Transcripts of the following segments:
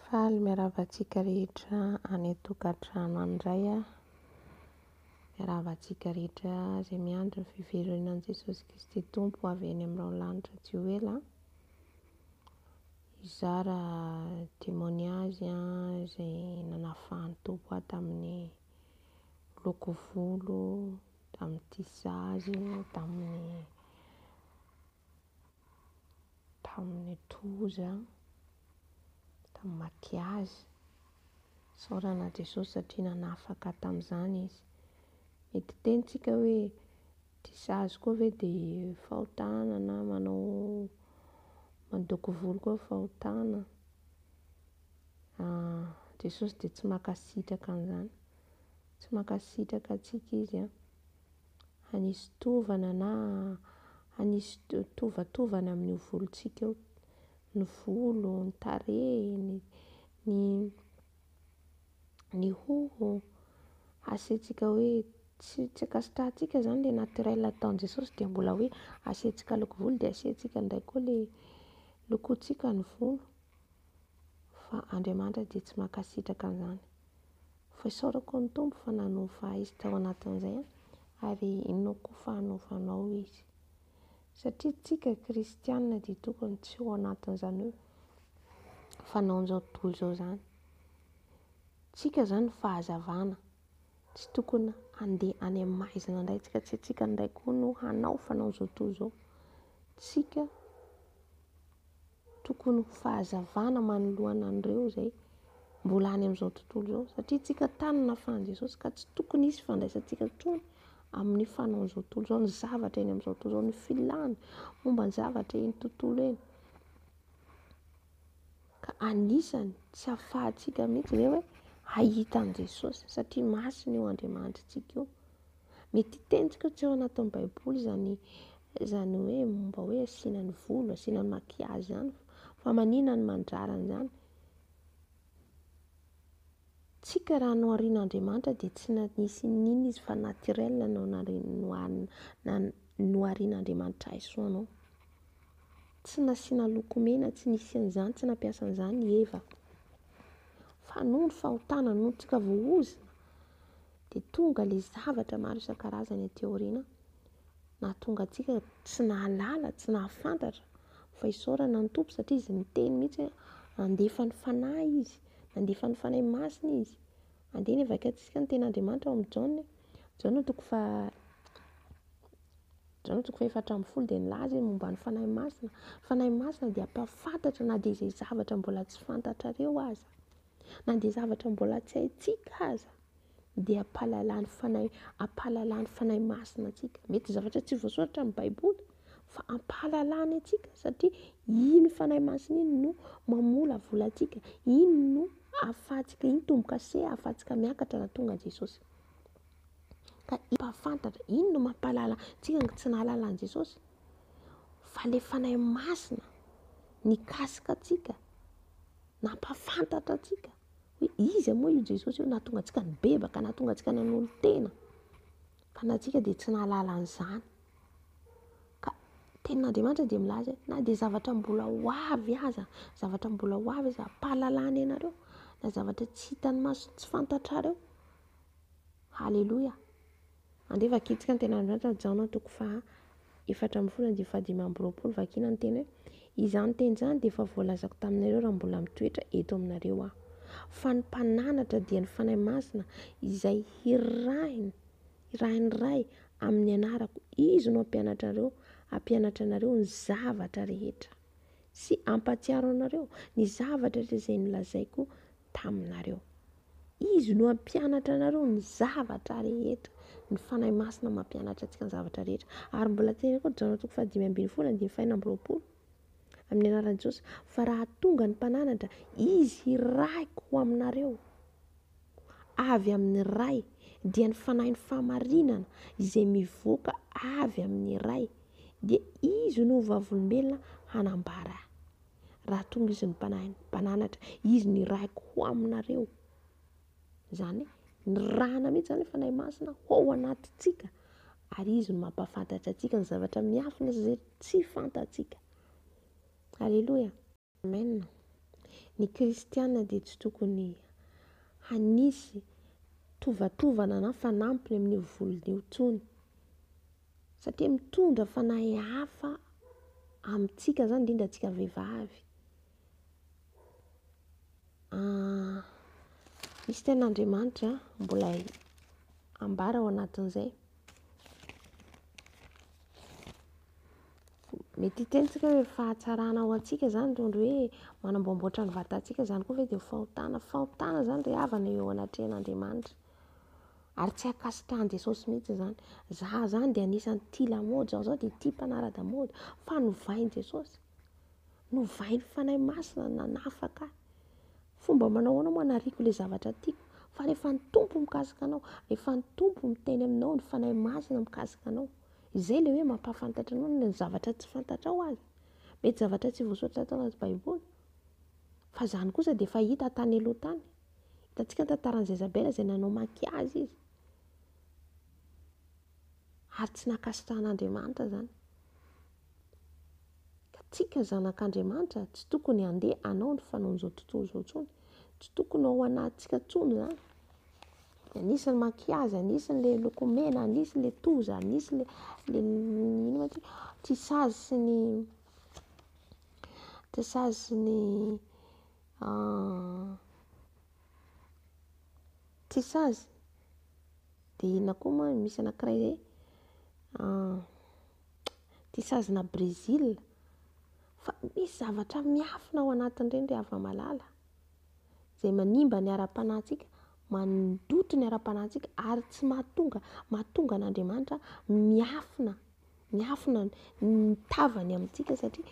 Faly miarahaba antsika rehetra any an-tokantrano any indray aho. Miarahaba antsika rehetra izay miandry ny fiverenan'i Jesosy Kristy Tompo ho avy any amin'ny raholanitra tsy ho ela. Hizara témoignage aho izay nanafahan'ny Tompo ahy tamin'ny loko volo, tamin'ny tissage, tamin'ny tamin'ny tohozy an, tamin'ny maty azy. Isaorana an'i Jesosy satria nanafaka tamin'izany Izy. Mety hiteny tsika hoe, ity sazy koa ve dia fahotana na manao mandoko volo koa fahotana. Ah, Jesosy dia tsy mankasitraka an'izany. Tsy mankasitraka antsika Izy an. hanisy tovana na hanisy tovatovana amin'io volontsika io, ny volo, ny tarehy, ny ny ny hoho, asiantsika hoe tsy tsy ankasitrahantsika zany le naturel ataon'i Jesosy de mbola hoe asiantsika loko volo de asiantsika ndray koa le lokontsika ny volo. fa Andriamanitra dia tsy mankasitraka an'izany. Fa isaorako ny Tompo fa nanova ahy izy tao anatin'izay ary inoako fa hanova anao izy. Satria tsika kristianina dia tokony tsy ho anatin'izany hoe fanaon'izao tontolo izao izany. Tsika izany fahazavana. Tsy tokony handeha any amin'ny maizina indray tsika, tsy tsika indray koa no hanao fanaon'izao tontolo izao. Tsika Tokony ho fahazavana manoloana an'ireo izay mbola any amin'izao tontolo izao. Satria tsika tany nafahan'i Jesosy ka tsy tokony hisy fandraisantsika intsony amin'ny fanaon'izao tontolo izao, ny zavatra eny amin'izao tontolo izao, ny filàny momba ny zavatra eny tontolo eny. Ka anisany tsy afahantsika mihitsy ve hoe hahita an'i Jesosy satria masina io Andriamanitritsika io. Mety hitentika tsy ao anatin'ny baiboly izany izany hoe momba hoe asiana ny volo, asiana ny maquillage izany fa manina ny mandrara an'izany. Tsika raha noharian'Andriamanitra dia tsy nisy n'inona izy fa naturel no noharian'Andriamanitra ahy soa anao. Tsy nasiana lokomena, tsy nisy an'izany, tsy nampiasa an'izany i Eva. Fa noho ny fahotana, noho ny tsika voahozona, dia tonga ilay zavatra maro isan-karazany aty aoriana nahatonga antsika tsy nahalala, tsy nahafantatra fa isaorana ny Tompo satria Izy niteny mihitsy hoe handefa ny Fanahy Izy, nandefa ny Fanahy Masina Izy. Andeha ny havakiantsika ny Tenin'Andriamanitra ao amin'ny Jaona. Jaona toko faha Jaona toko fahefatra ambin'ny folo dia nilaza izy momba ny Fanahy Masina. Fanahy Masina dia hampahafantatra na dia izay zavatra mbola tsy fantatrareo aza. na dia zavatra mbola tsy haintsika aza dia ampahalalan'ny fanahy ampahalalan'ny fanahy masina antsika mety zavatra tsy voasoratra amin'ny baiboly fa ampahalalany antsika satria iny fanahy masina iny no mamolavola antsika iny no ahafahantsika iny tombo-kase ahafahantsika miakatra raha tonga an'i jesosy ka mpahafantatra iny no mampahalala antsika ny tsy nahalala an'i jesosy fa le fanahy masina nikasika antsika Nampahafantatra antsika hoe iza moa io Jesosy io nahatonga antsika nibebaka, nahatonga antsika nanolo-tena. Fa na antsika dia tsy nahalala an'izany. Ka tenin'Andriamanitra dia milaza hoe na dia zavatra mbola ho avy aza, zavatra mbola ho avy aza ampahalalana ianareo, na zavatra tsy hitan'ny maso, tsy fantatrareo. Haleloia. Andeha vakintsika ny Tenin'Andriamanitra ao Jaona toko faha efatra ambin'ny folo andinin'ny faha dimy amby roapolo, vakiana ny teny hoe, Izany teny izany dia efa voalazako taminareo raha mbola mitoetra eto aminareo aho, fa ny mpananatra dia ny Fanahy Masina izay hirahiny, hirahin'ny Ray amin'ny anarako, izy no hampianatra anareo, hampianatra anareo ny zavatra rehetra, sy hampahatsiaro anareo ny zavatra rehetra izay nolazaiko taminareo. Izy no hampianatra anareo ny zavatra rehetra. Ny Fanahy Masina mampianatra antsika ny zavatra rehetra. Ary mbola teny koa Jaona toko fahadimy ambin'ny folo andininy fahenina amby roapolo. Amin'ny anaran'i Jesosy. Fa raha tonga ny mpananatra, izy hiraiko ho aminareo. Avy amin'ny Ray, dia ny Fanahin'ny fahamarinana izay mivoaka avy amin'ny Ray, dia izy no vavolombelona hanambara Raha tonga izy ny mpanahin'ny mpananatra, izy no irahiko ho aminareo. Izany hoe nirahana mihitsy izany ny Fanahy Masina ao anatintsika ary izy no mampahafantatra antsika ny zavatra miafina sy izay tsy fantatsika. Alléluia. Amen. Ny kristiana dia tsy tokony hanisy tovatovana na fanampiny amin'io voliny io intsony. Satria mitondra fanahy hafa amintsika izany, indrindra antsika vehivavy. Ah, misy ten'Andriamanitra mbola ambara ao anatin'izay. Mety hitentsika hoe fahatsarana ao antsika izany toy ny hoe manamboamboatra ny vatantsika izany koa ve dia fahotana. Fahotana izany ry havana eo anatrehan'Andriamanitra. Ary tsy ankasitrahan'i Jesosy mihitsy izany. Izaho izany dia anisan'ny tia lamaody, izaho izao dia tia mpanara-damaody. Fa novain'i Jesosy. Novain'ny Fanahy Masina nanafaka ahy. Fomba manao ahoana moa hanariako ilay zavatra tiako? Fa rehefa ny Tompo mikasika anao, rehefa ny Tompo miteny aminao, ny Fanahy Masina mikasika anao. Izay ilay hoe mampahafantatra anao ny zavatra tsy fantatrao aza. Mety zavatra tsy voasoratra tao anaty Baiboly. Fa izany kosa dia efa hita tany aloha tany. Hitantsika ny tantaran'i Zezabela izay nanao maquillage izy. Ary tsy nankasitrahan'Andriamanitra izany. Ka tsika zanak'Andriamanitra tsy tokony handeha hanao ny fanaon'izao tontolo izao intsony. Tsy tokony ao anatintsika intsony izany. Anisany maquillage, anisany le loko mena, anisany le toza, anisany le inona ty? Tissage sy ny tissage sy ny Ah. Tsy sazy. Dia inona koa moa no misy anankiray izay? Ah. Ity sazina Brésil. Fa misy zavatra miafina ao anatin'ireny ry hava-malala. Izay manimba ny ara-panahintsika, mandoto ny ara-panahintsika ary tsy mahatonga mahatonga an'Andriamanitra miafina miafina ny tavany amintsika satria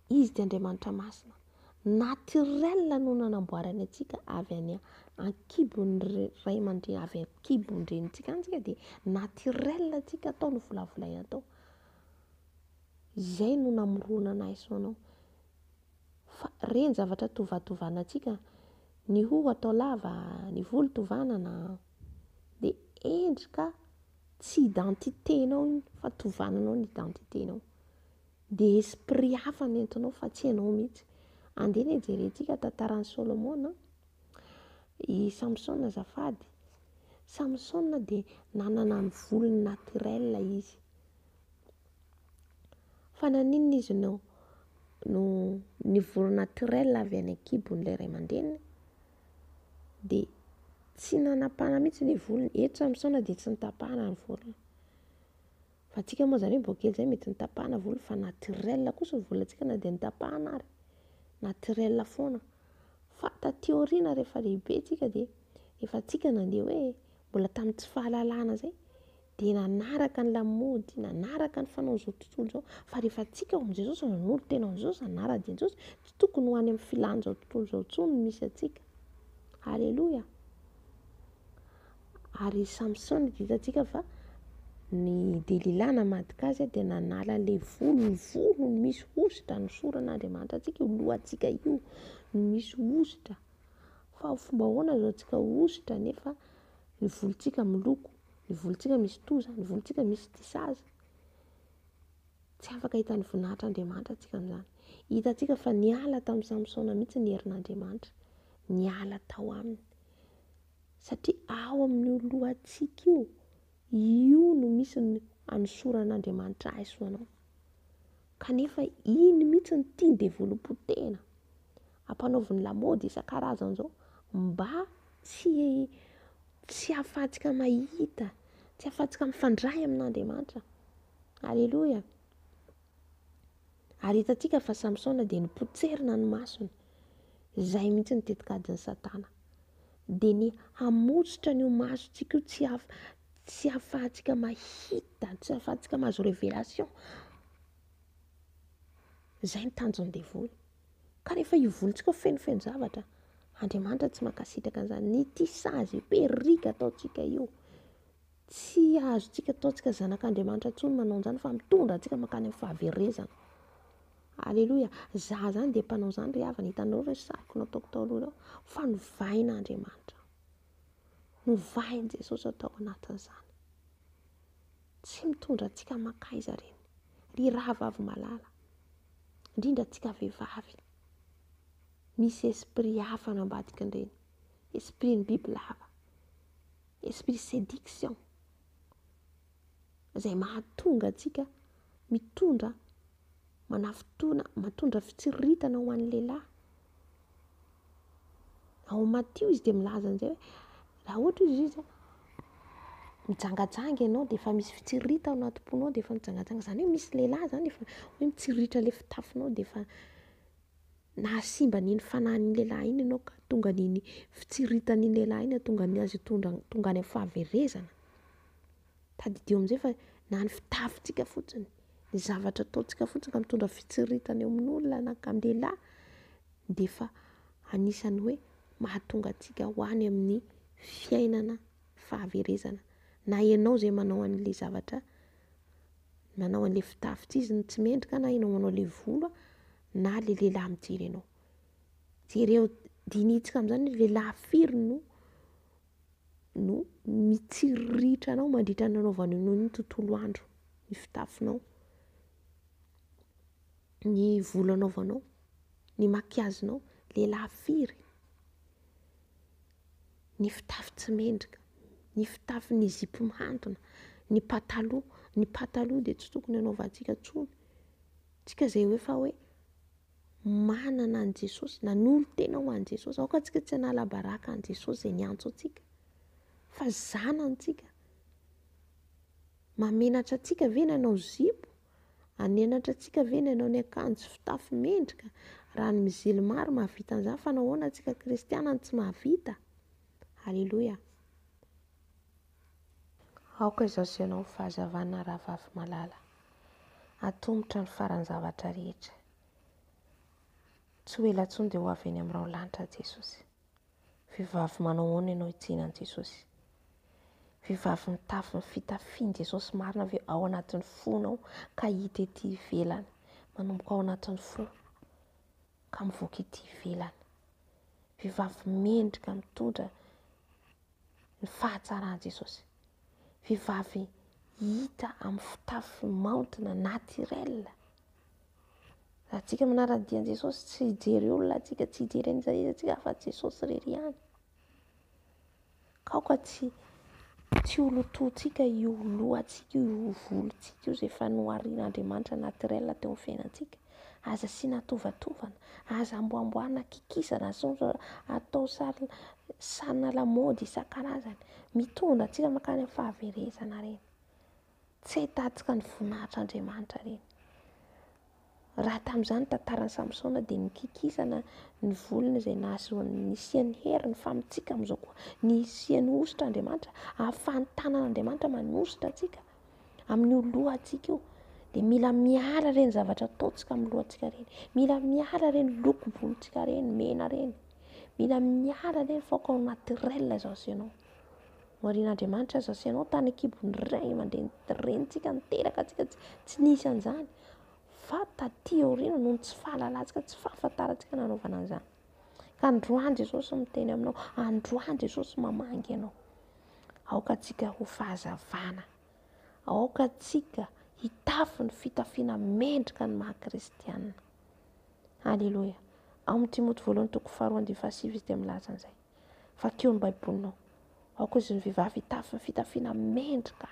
Izy dia Andriamanitra masina. Naturel no nanamboarany antsika avy any an-kibon'ny ray aman-dreny, avy an-kibon-drenintsika any tsika dia naturel antsika atao no volavolaina atao. Izay no namorona anahy sy ho anao. Fa ireny zavatra tovatovana antsika, ny hoho atao lava, ny volo tovanana, dia endrika tsy identité-nao iny fa tovananao ny identité-nao. Dia esprit hafa no entinao fa tsy ianao mihitsy. Andeha anie jerentsika tantaran'i Solomona an. I Samsona azafady. Samsona dia nanana ny volony naturel izy. Fa naninona izy no no ny volo naturel avy any an-kibon'ilay ray aman-dreniny dia tsy nanapahana mihitsy ny volony. Eto Samsona dia tsy notapahana ny volony. Fa antsika moa izany hoe mbola kely izay mety nitapahana volo fa naturel kosa ny volantsika na dia nitapahana ary, naturel foana. Fa taty aoriana rehefa lehibe tsika dia efa antsika nandeha hoe mbola tamin'ny tsy fahalalana izay dia nanaraka ny lamaody, nanaraka ny fanaon'izao tontolo izao. Fa rehefa antsika amin'izao izao izao nanolo tena amin'izao izao izany ara-dieny izao izao tsy tokony ho any amin'ny filan'izao tontolo izao intsony ny misy antsika. Aleloia. Ary i Samsona dia hitantsika fa ny Delila namadika azy dia nanala ilay volo, ny volony misy hosotra nosoran'Andriamanitra antsika io lohantsika io no misy hosotra. Fa ho fomba ahoana azontsika hosotra nefa ny volontsika miloko, ny volontsika misy toza, ny volontsika misy tissages. Tsy afaka hahita ny voninahitr'Andriamanitra tsika amin'izany. Hitantsika fa niala tamin'i Samsona mihitsy ny herin'Andriamanitra, niala tao aminy. Satria ao amin'io lohantsika io, io no misy ny anosoran'Andriamanitra ahy sy anao. Kanefa iny mihitsy no tiany developon-tena. Ampanaoviny lamaody isan-karazany izao mba tsy tsy ahafahantsika mahita, tsy ahafahantsika mifandray amin'Andriamanitra. Aleloia. Ary hitantsika fa Samsona dia nipotserina ny masony. Izay mihitsy ny tetikadin'ny Satana. Dia ny hamotsotra ny masontsika io tsy, haf, tsy hahafahantsika mahita, tsy hahafahantsika mahazo révélation. Izay ny tanjon'ny devoly. Ka rehefa ivolontsika fenofeno zavatra, Andriamanitra tsy mankasitraka an'izany. Ity sazy perika ataontsika io Tsy azontsika ataontsika zanak'Andriamanitra intsony manao an'izany fa mitondra antsika mankany amin'ny fahaverezana. Aleloia. Izaho izany dia mpanao izany ry havana, hitanareo ve ny sariko nataoko tao aloha ireo? Fa novahin'Andriamanitra aho. Novahin'i Jesosy aho tao anatin'izany. Tsy mitondra antsika mankaiza ireny. Ry rahavavy malala, indrindra antsika vehivavy, misy esprit hafa any ambadikin'ireny. Esprit-n'ny bibilava. Esprit séduction izay mahatonga antsika mitondra manafitoana, matondra fitsiriritana ho an'ny lehilahy. Ao Matio izy dia milaza an'izay hoe raha ohatra izy izy mijangajanga ianao dia efa misy fitsiriritana ao anaty ponao dia efa mijangajanga izany hoe misy lehilahy izany efa hoe mitsiritra ilay fitafinao dia efa nahasimba an'iny fanahin'iny lehilahy iny ianao ka tonga an'iny fitsiritan'iny lehilahy iny hahatonga ny azy hitondra tonga any amin'ny fahaverezana. Tadidio amin'izay fa na ny fitafintsika fotsiny, ny zavatra ataontsika fotsiny ka mitondra fitsiritana eo amin'olona na ka amin'ny lehilahy dia efa anisan'ny hoe mahatonga antsika ho any amin'ny fiainana fahaverezana. Na ianao izay manao an'ilay zavatra, manao an'ilay fitafints'izy no tsy mendrika na ianao manao ilay volo a. na le lehilahy mijery anao. Jereo, dinihitsika amin'izany hoe lehilahy firy no no mitsiriritra anao mandritra ny nanaovany anao ny tontolo andro, ny fitafinao, ny volo anaovanao, ny makiazinao, lehilahy firy, ny fitafy tsy mendrika, ny fitafy ny zipo mihantona, ny pataloha, ny pataloha dia tsy tokony anaovantsika intsony. Tsika zay hoe fa hoe manana an'i Jesosy, nanolo tena ho an'i Jesosy, aoka tsika tsy hanala baraka an'i Jesosy zay niantso antsika fa zanantsika. Mamenatra antsika ve ny hanao zipo? Anenatra antsika ve ny hanao ny akanjo fitafy mendrika? Raha ny mizilma ary mahavita an'izany fa nahoana antsika kristiana no tsy mahavita? Alléluia. Aoka izao asehonao ny fahazavana rahavavy malala. Atomotra ny faran'ny zavatra rehetra. Tsy ho ela intsony dia ho avy eny amin'ny raolanitra Jesosy. Vehivavy manao ahoana ianao hijery an'i Jesosy? Vehivavy mitafy ny fitafian'i Jesosy marina ve ao anatin'ny fonao ka hita ety ivelany? Manomboka ao anatin'ny fo ka mivoaka ety ivelany. Vehivavy mendrika mitondra ny fahatsaran'i Jesosy. Vehivavy hita amin'ny fitafy maontina, naturel. Raha antsika manara ny dian'i Jesosy, tsy hijery olona antsika, tsy hijery an'iza iza antsika afa Jesosy irery ihany. Kaoka tsy tsy ho lotoantsika io lohantsika io, io volontsika io izay efa noharian'Andriamanitra naturel teo amin'ny fiainantsika. Aza asiana tovatovana, aza amboamboarina kikisana, aza atao sary sarina lamaody isan-karazany. Mitondra antsika mankany amin'ny fahaverezana ireny. Tsy ahitantsika ny voninahitr'Andriamanitra ireny. Raha tamin'izany ny tantaran'i Samsona dia nikikisana ny volony izay nahazoany nisiany hery ny famintsika amin'izao koa. Nisiany hosotra Andriamanitra, ahafahan'ny tanan'Andriamanitra manosotra antsika. amin'io lohantsika io dia mila miala ireny zavatra ataontsika amin'ny lohantsika ireny mila miala ireny loko volontsika ireny mena ireny mila miala ireny faoka ao naturel izao sy ianao morian'andriamanitra izao sy ianao tany an-kibon'ny ray aman-dreny renintsika niteraka antsika tsy tsy nisy an'izany fa taty aoriana noho ny tsy fahalalantsika tsy fahafantarantsika nanaovana an'izany Ka androany Jesosy miteny aminao, androany Jesosy mamangy anao. Aoka antsika ho fahazavana, aoka antsika hitafy ny fitafiana mendrika ny maha kristianina. Aleloia. Ao amin'ny Timoty voalohany toko faharoa andivo fahasivy izy dia milaza an'izay. Vakio ny Baibolinao. Aoka izy ny vehivavy hitafy ny fitafiana mendrika.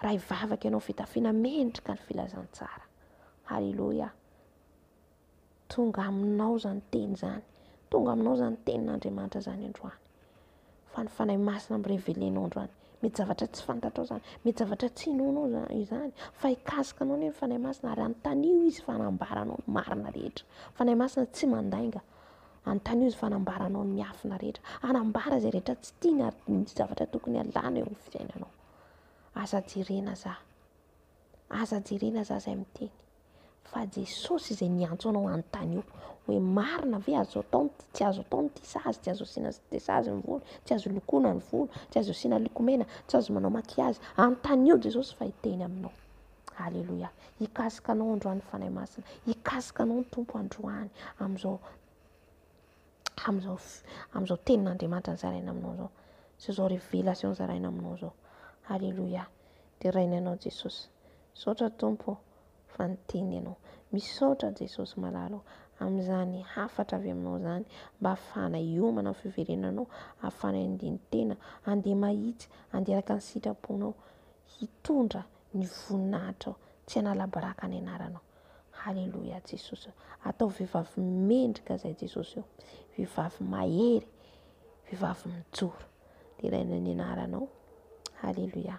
Raha hivavaka ianao fitafiana mendrika ny filazantsara. Aleloia. Tonga aminao izany teny izany. Tonga aminao izany tenin'Andriamanitra izany androany. Fa ny Fanahy Masina mi-reveler-nao androany. Mety zavatra tsy fantatrao izany. Mety zavatra tsy inoanao izany. Fa hikasika anao anie ny Fanahy Masina ary anontanio Izy fa hanambara anao ny marina rehetra. Ny Fanahy Masina tsy mandainga. Anontanio Izy fa hanambara anao ny miafina rehetra. Hanambara izay rehetra tsy tiany ary ny zavatra tokony alana eo amin'ny fiainanao. Aza jerena aza. Aza jerena aza izay miteny. fa Jesosy izay niantso anao hanontany io hoe marina ve azo atao ny tsy azo atao ny tia sazy, tsy azo asiana de sazy ny volo, tsy azo lokoana ny volo, tsy azo asiana lokomena, tsy azo manao makiazy. Anontanio Jesosy fa hiteny aminao. Alléluia. Hikasika anao androany Fanahy Masina. Hikasika anao ny Tompo androany amin'izao amin'izao amin'izao tenin'Andriamanitra nizaraina aminao izao. Sy izao révélation zaraina aminao izao. Alléluia. Deraina ianao Jesosy. Misaotra Tompo ô fa niteny ianao. Misaotra Jesosy malala ô amin'izany hafatra avy aminao izany mba hafahana hiomana amin'ny fiverenanao, hafahana handihy ny tena, handeha mahitsy, handeha araka ny sitraponao, hitondra ny voninahitrao, tsy hanala baraka ny anaranao. Haleloia Jesosy ô. Ataovy vehivavy mendrika izay Jesosy ô. Vehivavy mahery, vehivavy mijoro. Deraina ny anaranao. Haleloia.